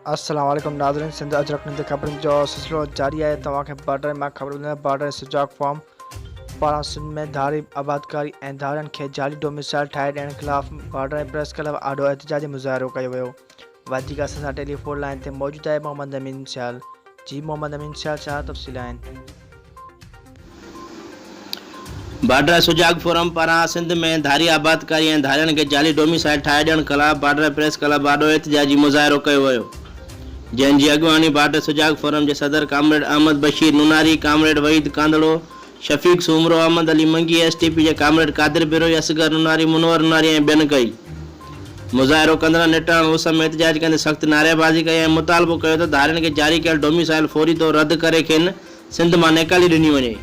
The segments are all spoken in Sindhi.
السلام عليڪم ناظرين سنڌ اجرڪ نيوز خبرن جو سلسلو جاري آهي توهان کي بارڊر مان خبر ٻڌائي بارڊر سجاگ فارم پاران سنڌ ۾ ڌاري آبادڪاري ۽ ڌارين کي جعلي ڊوميسائل ٺاهي ڏيڻ خلاف بارڊر پريس ڪلب آڏو احتجاجي مظاهرو ڪيو ويو وڌيڪ اسان سان ٽيليفون لائين تي موجود آهي محمد امين سيال جي محمد امين سيال ڇا تفصيل آهن. بارڊر سجاڳ فورم پاران سنڌ ۾ ڌاري آبادڪاري ۽ ڌارين کي جعلي ڊوميسائيل ٺاهي ڏيڻ خلاف بارڊر پريس ڪلب آڏو احتجاجي مظاهرو ڪيو ويو جنهن جي اڳواڻي بارڊر سجاڳ فورم جي صدر comrade Ahmed Bashir Nonari, comrade Waheed Kandhro, Shafiq Soomro, Ahmed Ali Mangi, S T P جي ڪامريڊ قادر بروهي، اصغر نوناري، منور نوناري ۽ ٻين ڪئي. مظاهرو ڪندڙن نٽهڙڻ اس ۾ احتجاج ڪندي سخت نعريبازي ڪئي ۽ مطالبو ڪيو ته ڌارين کي جاري ڪيل ڊوميسائل فوري طور رد ڪري کين سنڌ مان نيڪالي ڏني وڃي.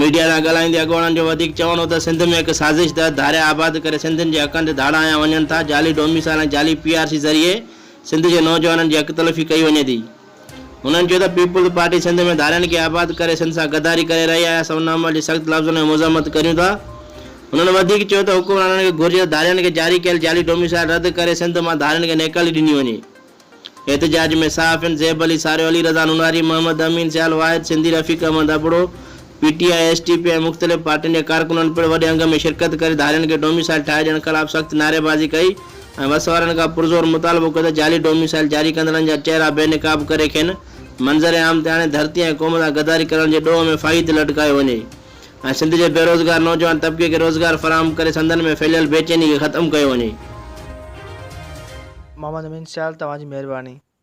ميڊيا سان ڳالهائيندي اڳواڻن جو وڌيڪ چوڻ هو ته سنڌ ۾ هڪ سازش تحت ڌاريا آباد ڪري سنڌين جي حقن تي ڌاڙا هنيا وڃن ٿا، جعلي ڊوميسائل ۽ جعلي پي آر سي ذريعي سنڌ جي نوجوانن جي حق تلفي ڪئي وڃي ٿي. هنن چيو ته پيپلز پارٽي سنڌ ۾ ڌارين کي آباد ڪري سنڌ سان غداري ڪري رهي آهي، اسان ان عمل جي سخت لفظن ۾ مذمت ڪريون ٿا. هنن وڌيڪ چيو ته حڪمرانن کي گهرجي ته ڌارين کي جاري ڪيل جعلي ڊوميسائل رد ڪري سنڌ مان ڌارين کي نيڪالي ڏني وڃي. احتجاج ۾ صحافين زيب علي ساريو، علي رضا Nonari, Muhammad Amin Sial, Wahid Sindhi, Rafiq Ahmed Abro, P T I, S T P ۽ مختلف پارٽين جي ڪارڪنن پڻ وڏي انگ ۾ شرڪت ڪري ڌارين کي ڊوميسائيل ٺاهي ڏيڻ خلاف سخت نعريبازي ڪئي ۽ وس وارن کان پرزور مطالبو ڪيو ته جعلي ڊوميسائيل جاري ڪندڙن جا چهرا بي نقاب ڪري کين منظر عام تي آڻي ڌرتي ۽ قوم سان غداري ڪرڻ جي ڏوهه ۾ ڦاهي تي لٽڪايو وڃي ۽ سنڌ جي بيروزگار نوجوان طبقي کي روزگار فراهم ڪري سندن ۾ ڦهليل بيچيني کي ختم ڪيو وڃي. محمد امين سيال توهان جي مهرباني.